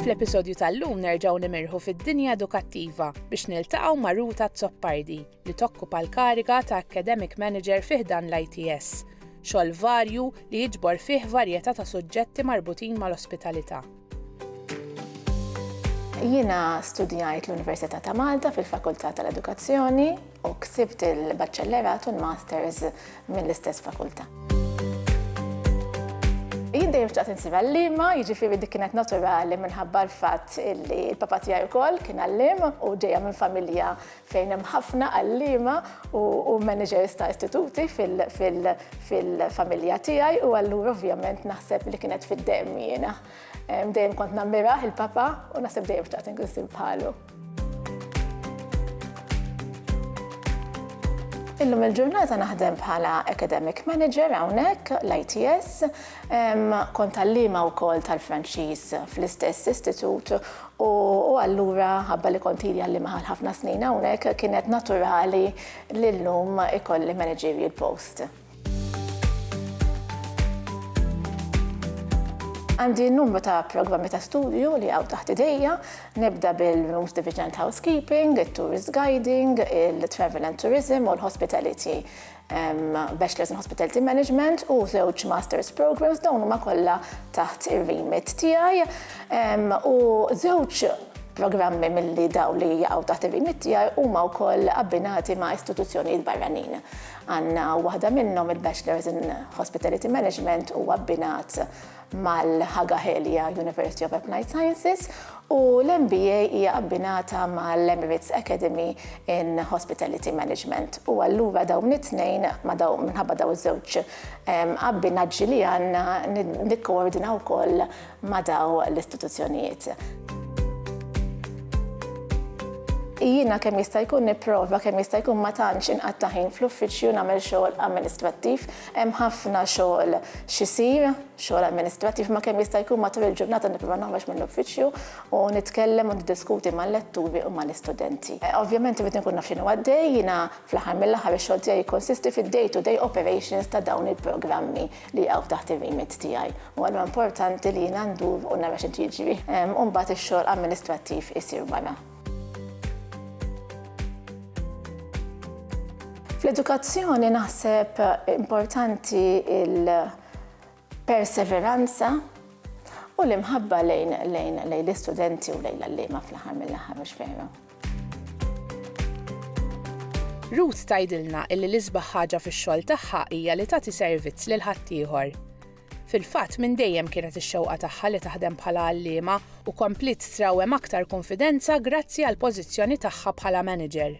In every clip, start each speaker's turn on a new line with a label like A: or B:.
A: Fl-episodju tal-lum nerġgħu nimirħu fid-dinja edukattiva biex niltaqgħu ma' Ruta Zoppardi li tokkupa l-kariga ta' Academic Manager fi ħdan l-ITS, xogħol varju li jiġbor fih varjetà ta' suġġetti marbutin mal-ospitalità.
B: Jiena studjajt l-Università ta' Malta fil-Fakultà tal-Edukazzjoni u ksibt il-Baċċellerat u l-Masters mill-istess fakultà. Jien dejjem xtaqt insir għallima, jiġifieri dik kienet naturali minħabba l-fatt li l-papa tiegħi wkoll kien għalliem u ġejja minn familja fejn hemm ħafna għalliema u managers ta' istituti fil-familja tiegħi u allura ovvjament naħseb li kienet fid-demm jiena. Dejjem kont nammiraħ il-papa u naħseb dejjem xtaqt inkun sim bħalu. Illum il-ġurnata naħdem bħala academic manager hawnhekk l-ITS, kont għalliema wkoll tal-Franċiż fl-istess istitut U allura, ħabba li kont ili għalliema għal ħafna snin hawnhekk, kienet naturali li llum ikolli managerial post. Għandi numru ta' programmi ta' studju li jaqgħu taħt idejja, nibda bil-Rooms Division tal-Housekeeping, it-Tourist Guiding, il-Travel and Tourism u l-Hospitality. Bachelors in Hospitality Management u żewġ Masters Programs dawn huma kollha taħt ir-remit tiegħi u żewġ programmi milli daw li jaqgħu taħt ir-remit tiegħi huma wkoll abbinati ma' istituzzjonijiet barranin. Għandna waħda minnhom il-Bachelors in Hospitality Management u abbinat mal-Hagahelia University of Applied Sciences u l-MBA hija abbinata mal-Emirates Academy in Hospitality Management. U allura dawn it-tnejn minħabba daw iż-żewġ ehm, abbinaġġi li għandna nikkoordinaw ukoll ma' daw l-istituzzjonijiet. Jiena kemm jista' jkun nipprova kemm jista' jkun ma tantx inqatta' ħin fl-uffiċċju nagħmel xogħol amministrattiv Hemm ħafna xogħol x'isir, xogħol amministrattiv, imma kemm jista' jkun matul il-ġurnata nipprova noħroġ mill-uffiċċju u nitkellem u niddiskuti mal-letturi u mal-istudenti. Ovvjament irrid inkun naf x'inhu għaddej, jiena fl-aħħar mill-aħħar ix-xogħol tiegħi jikkonsisti fid-day to day operations ta' dawn il-programmi li jaqgħu taħt ir-remit tiegħi u allura importanti li jiena ndur u nara x'qed jiġri u mbagħad ix-xogħol amministrattiv isir wara. Fl-edukazzjoni naħseb importanti il-perseveranza u l-imħabba lejn lejn lejn l-istudenti u lejn l-allima fl-aħħar mill-aħħar mhux fejra.
A: Ruth tgħidilna illi l-isbaħ ħaġa fix-xogħol tagħha hija li tagħti servizz lil ħaddieħor. Fil-fatt, minn dejjem kienet ix-xewqa tagħha li taħdem bħala għalliema u kompliet trawwem aktar kunfidenza grazzi għall-pożizzjoni tagħha bħala manager.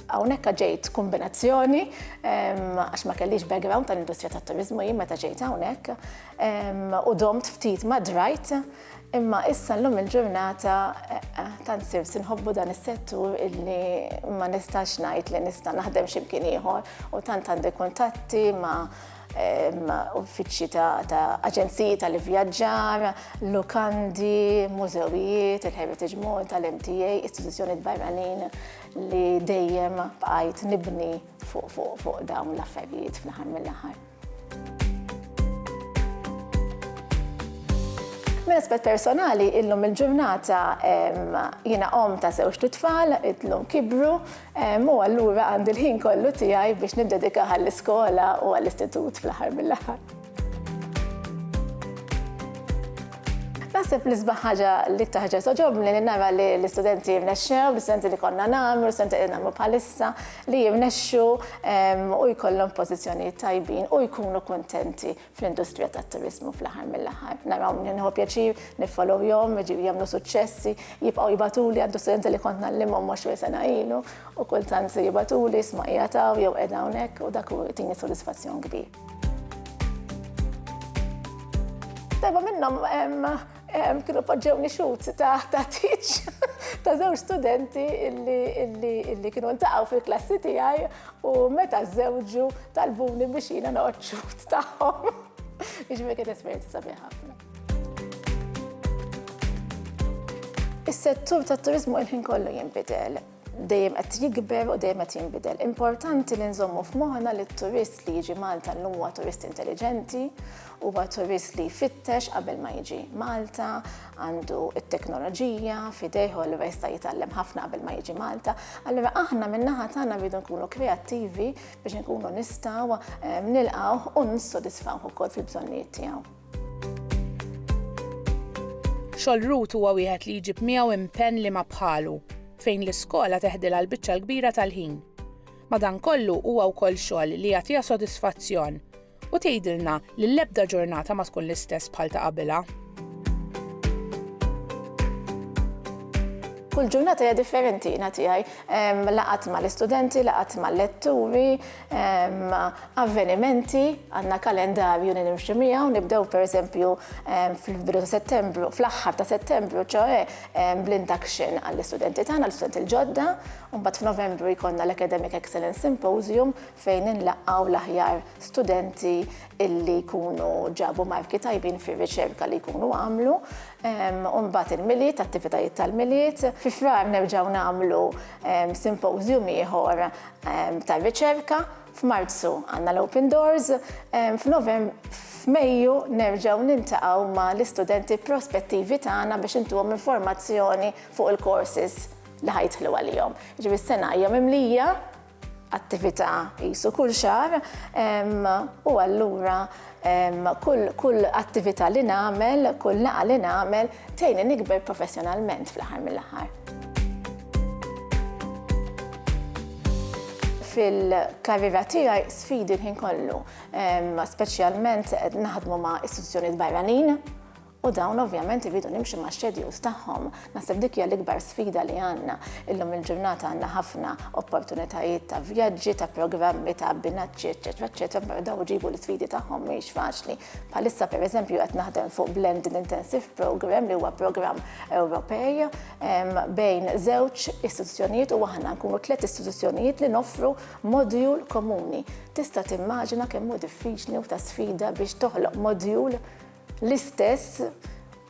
B: Hawnhekk ġejt kombinazzjoni għax ma kellix background tal-industrija tat-turiżmu jien meta ġejt hawnhekk u domt ftit ma drajt Imma issa llum il-ġurnata tant sirs inħobbu dan is-settur illi ma nistax ngħid li nista' naħdem x'imkien ieħor u tant għandi kuntatti ma' uffiċċji ta' aġenziji tal-ivvjaġġar, lukandi, mużewijiet, il-Heritage Mall tal-MTA, istituzzjonijiet barranin li dejjem bqajt nibni fuq dawn l-affarijiet fl-aħħar mill-aħħar. Minn aspett personali, illum il-ġurnata jiena om ta' żewġ tfal, illum kibru, u allura għandi l-ħin kollu tiegħi biex niddedika għall-iskola u għall-istitut fl-aħħar mill-aħħar. Naħseb li sbaħ ħaġa li taħġa soġobni li nara li l-istudenti rnexxew, l-istudenti li konna nagħmlu, l-istudenti li nagħmlu bħalissa, li jirnexxu u jkollhom pożizzjonijiet tajbin u jkunu kuntenti fl-industrija tat-turiżmu fl-aħħar mill-aħħar. Naraw nieħu pjaċir niffollowjhom, jiġifieri jagħmlu suċċessi, jibqgħu jibgħatuli, għandi studenti li kont ngħallimhom 20 sena ilu u kultant jibgħatuli isma' qiegħed hawn jew qiegħda hawnhekk u dak jagħtini sodisfazzjon kbir. Darba minnhom Kienu poġġewni xut ta' tiċ ta' żewġ studenti illi kienu ntaqgħu fil-klassi tiegħi u meta żewġu talbuni biex jiena noqgħod xut tagħhom. Iġmi kien esperjenza sabiħ ħafna. Is-settur tat-turizmu il-ħin kollu jinbidel. dejjem qed jikber u dejjem qed jinbidel. Importanti li nżommu f'moħħna li t-turist li jiġi Malta llum huwa turist intelliġenti, huwa turist li jfittex qabel ma jiġi Malta, għandu t-teknoloġija f'idejh u allura jista' jitgħallem ħafna qabel ma jiġi Malta. Allura aħna min-naħa tagħna rridu nkunu kreattivi biex inkunu nistgħu ehm, nilqgħuh u nissodisfawh ukoll fil-bżonnijiet tiegħu.
A: Xogħol Ruth huwa wieħed li jġib miegħu impenn li ma bħalu, fejn l-iskola teħdilha l-biċċa l-kbira tal-ħin. Madankollu huwa wkoll xogħol li jagħtiha sodisfazzjon u tgħidilna li l-ebda ġurnata ma tkun l-istess bħal ta' qabilha.
B: Kull ġurnata hija differenti na tiegħi. Laqat mal-istudenti, laqat mal-letturi, Avvenimenti, għandna kalendarju li nimxu miegħu, nibdew pereżempju fil-bidu ta' Settembru, fl-aħħar ta' Settembru, ċoe bl-induction għall-istudenti tagħna, l-istudenti l-ġodda, u mbagħad f'Novembru jkollna l-Academic Excellence Symposium fejn inlaqgħu l-aħjar studenti illi jkunu ġabu marki tajbin fir-riċerka li jkunu għamlu, u mbagħad il-Milied, attivitajiet tal-Milied. Fi Frar nerġgħu nagħmlu symposium ieħor tar-riċerka, f'Marzu għandna l-Open Doors, f'Mejju nerġgħu niltaqgħu ma' l-istudenti prospettivi tagħna biex intuhom informazzjoni fuq il-courses li ħa jidħlu għalihom. Jiġifieri s-sena hija mimlija attività qisu kull xahar u allura Kull attività li nagħmel, kull laqgħa li nagħmel tgħinni nikber professjonalment fl-aħħar mill-aħħar. Fil-karriera tiegħi sfidi l-ħin kollu, speċjalment naħdmu ma' istituzzjonijiet barranin U dawn ovvjament iridu nimxu ma' schedules tagħhom. Naħseb dik hija l-ikbar sfida li għandna. Illum il-ġurnata għandna ħafna opportunitajiet ta' vjaġġi, ta' programmi, ta' abbinaċċi, eċċetera, eċċetera, però dawn ġibu l-isfidi tagħhom mhijiex faċli. Bħalissa pereżempju qed naħdem fuq Blended Intensive Programme li huwa programm Ewropej bejn żewġ istituzzjonijiet u aħna nkunu tliet istituzzjonijiet li noffru modjul komuni. Tista' timmaġina kemm hu diffiċli u ta' sfida biex toħloq modjul l-istess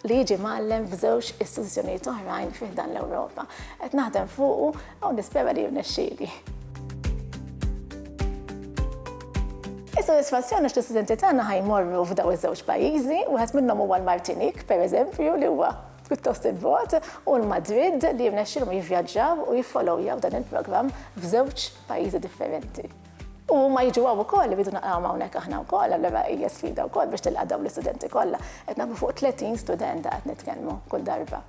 B: li jiġi mgħallem f'żewġ istituzzjonijiet oħrajn fi ħdan l-Ewropa. Qed naħdem fuqu u nispera li jirnexxieli. Is-sodisfazzjon għax l-istudenti tagħna ħajmorru f'daw iż-żewġ pajjiżi, wieħed minnhom huwa l-Martinik, pereżempju, li huwa pjuttost il-bot u l-Madrid li jirnexxilhom jivvjaġġaw u jiffolowjaw dan il-programm f'żewġ pajjiżi differenti. U huma jiġu hawn ukoll irridu naqrawhom hawnhekk aħna wkoll, allura hija sfida wkoll biex tilqa' dawn l-istudenti kollha. Qed nagħmlu fuq 30 student qed nitkellmu kull darba.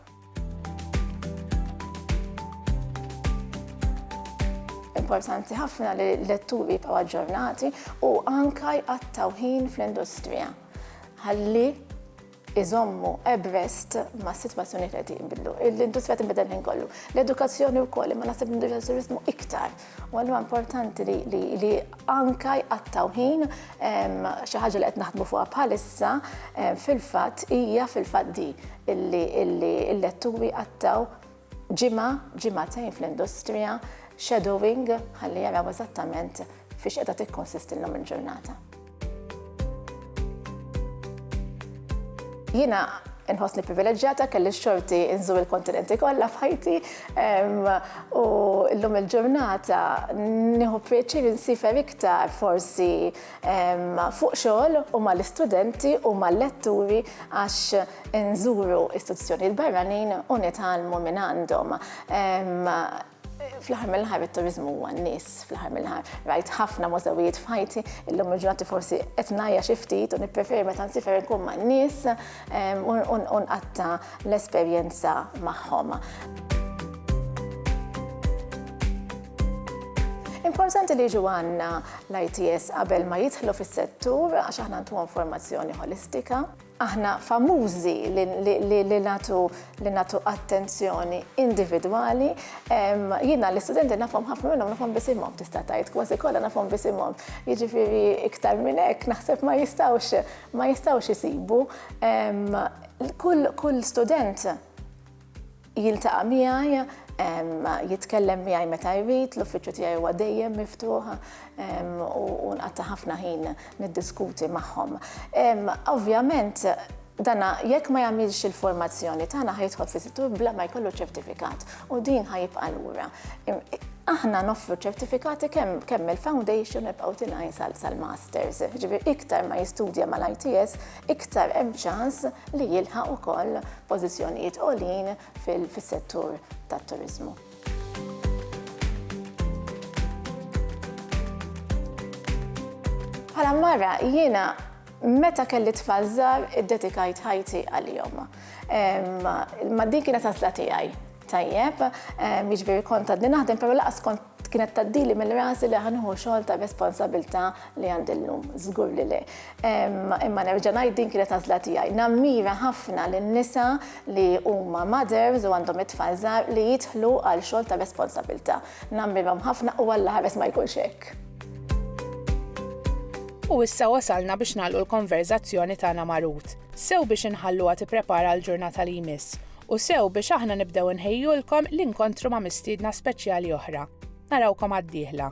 B: Importanti ħafna li l-letturi jibqgħu aġġornati u anka jqattgħu ħin fl-industrija. Ħalli iżommu abreast ma' situazzjoni li jinbidlu. L-industrija tinbidel il-ħin kollu. L-edukazzjoni wkoll, imma naħseb l-industrija turizmu iktar. U għallu importanti li anka jqattaw ħin xi ħaġa li qed naħdmu fuqha bħalissa fil-fatt hija fil-fatt di illi l-letturi qattaw ġimgħa, ġimgħatejn fl-industrija, shadowing, ħalli jaraw eżattament fiex qiegħda tikkonsistilhom il-ġurnata. Jiena inħossni privileġġjata kelli xorti inżur il-kontinenti kollha f'ħajti u llum il-ġurnata nieħu pjaċir insifer iktar forsi fuq xogħol u mal-istudenti u mal-letturi għax inżuru istituzzjonijiet barranin u nitgħallmu minn għandhom fl-ħar mill-ħar it-turizmu huwa n-nies fl-ħar mill-ħar. Rajt ħafna mużewijiet f'ħajti, illum il-ġurnati forsi qed ngħajja xi ftit u nippreferi meta nsifer nkun man-nies. u nqatta' l-esperjenza magħhom. Importanti li jiġu għandna l-ITS qabel ma jidħlu fis-settur għax aħna ntuhom formazzjoni holistika. Aħna famużi li natu li natu attenzjoni individwali. Jiena l-istudenti nafhom ħafna minnhom nafhom bisimhom tista' tgħid kważi kollha nafhom bisimhom. Jiġifieri iktar minn hekk naħseb ma jistgħux ma jistgħux isibu kull student jiltaqa' miegħi jitkellem miegħi meta jrid, l-uffiċċju tiegħi huwa dejjem miftuħ u nqatta' ħafna ħin niddiskuti magħhom. Ovvjament, dana jekk ma jagħmilx il-formazzjoni tagħna ħajtħol fis-settur bla ma jkollu ċertifikat. U din ħa jibqa' lura. Aħna noffru ċertifikati kemm il-foundation nibqgħu tilajn sal-masters. Ġifier iktar ma jistudja mal-ITS, iktar hemm ċans li jilħaq ukoll pożizzjonijiet għolin fis-settur tat-turiżmu. Bħala mara jiena Meta kelli tfal żgħar iddedikajt ħajti għalihom. Ma din kienet għażla tiegħi. Tajjeb, jiġifieri kont għadni naħdem, però laqas kont kienet taddili minn rasi li ħanħu xogħol ta' responsabilità li għandi llum, żgur li le. Imma nerġa' ngħid din kienet għażla tiegħi. Nammira ħafna lin-nisa li huma mothers u għandhom it-tfal żgħar li jidħlu għal xogħol ta' responsabilità. Nammirhom ħafna u Alla ħares ma jkunx hekk.
A: U issa wasalna biex nagħlqu l-konverżazzjoni tagħna ma' Ruth, sew biex inħalluha tipprepara għall-ġurnata li jmiss, u sew biex aħna nibdew inħejjulkom l-inkontru ma' mistiedna speċjali oħra. Narawkom għad-dieħla.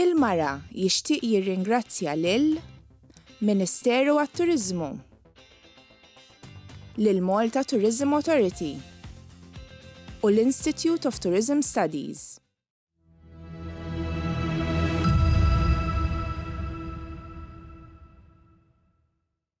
A: Il-Mara jixtieq jirringrazzja lil Ministeru għat-Turiżmu, lill-Malta Tourism Authority u l-Institute of Tourism Studies.